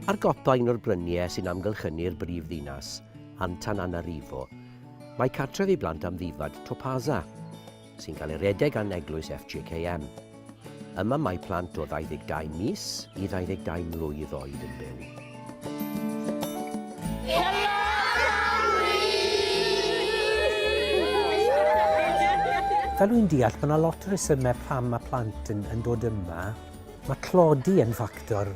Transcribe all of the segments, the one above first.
Ar gopa un o'r bryniau sy'n amgylchynu'r brif ddinas, Antananarivo, mae cartref i blant amddifad Topaza. sy'n cael ei redeg gan Eglwys FGKM. Yma mae plant o 22 mis i 22 mlwydd oed yn byw. Fel wy'n deall, mae yna lot o resymau pam mae plant yn, yn dod yma. Mae tlodi yn ffactor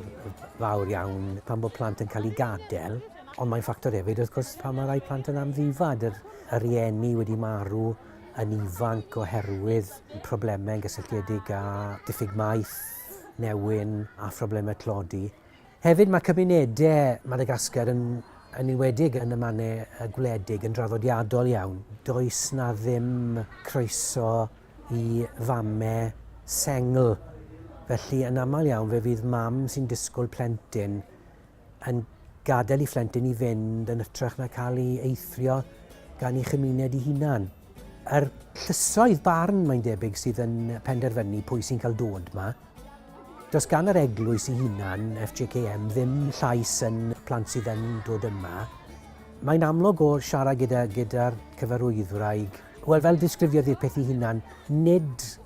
fawr iawn pan bod plant yn cael eu gadael, ond mae'n ffactor hefyd, wrth gwrs, pan mae rhai plant yn amddifad, yr, yr rieni wedi marw, yn ifanc oherwydd problemau gysylltiedig â diffyg maeth, newyn a phroblemau tlodi. Hefyd mae cymunedau Madagascar yn yn enwedig yn y mannau y gwledig yn draddodiadol iawn. Does na ddim croeso i famau sengl. Felly yn aml iawn fe fydd mam sy'n disgwyl plentyn yn gadael i phlentyn i fynd yn ytrach na cael ei eithrio gan ei chymuned ei hunan. Yr llysoedd barn mae'n debyg sydd yn penderfynu pwy sy'n cael dod yma. Does gan yr eglwys ei hunan, FJKM, ddim llais yn plant sydd yn dod yma. Mae'n amlwg o siarad gyda'r gyda cyfarwyddwraig Wel, fel disgrifiodd i'r peth i hunan, nid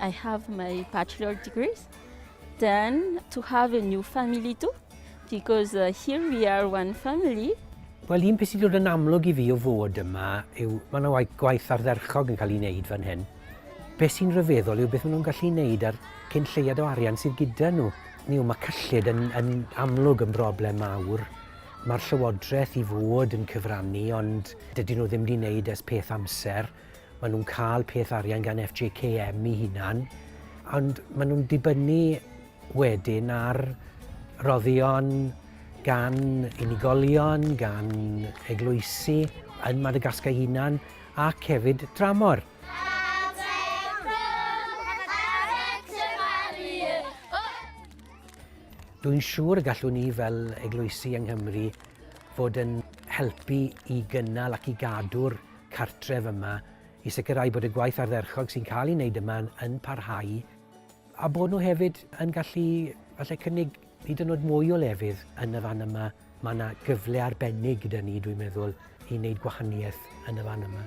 I have my bachelor degrees. Then to have a new family too, because uh, here we are one family. Wel, un peth sy'n dod yn amlwg i fi o fod yma yw, mae yna gwaith ardderchog yn cael ei wneud fan hyn. Be sy'n rhyfeddol yw beth maen nhw'n gallu wneud a'r cyn lleiad o arian sydd gyda nhw. Ni yw, mae cyllid yn, yn amlwg yn broblem mawr. Mae'r llywodraeth i fod yn cyfrannu, ond dydyn nhw ddim wedi wneud ers peth amser. Maen nhw'n cael peth arian gan FJKM i hunan, ond maen nhw'n dibynnu wedyn ar roddion gan unigolion, gan eglwysi yn Madagascar hunan ac hefyd dramor. Dwi'n siŵr y gallwn ni fel eglwysi yng Nghymru fod yn helpu i gynnal ac i gadw'r cartref yma i sicrhau bod y gwaith ardderchog sy'n cael ei wneud yma yn parhau a bod nhw hefyd yn gallu falle cynnig hyd yn oed mwy o lefydd yn y fan yma. Mae yna gyfle arbennig gyda ni, dwi'n meddwl, i wneud gwahaniaeth yn y fan yma.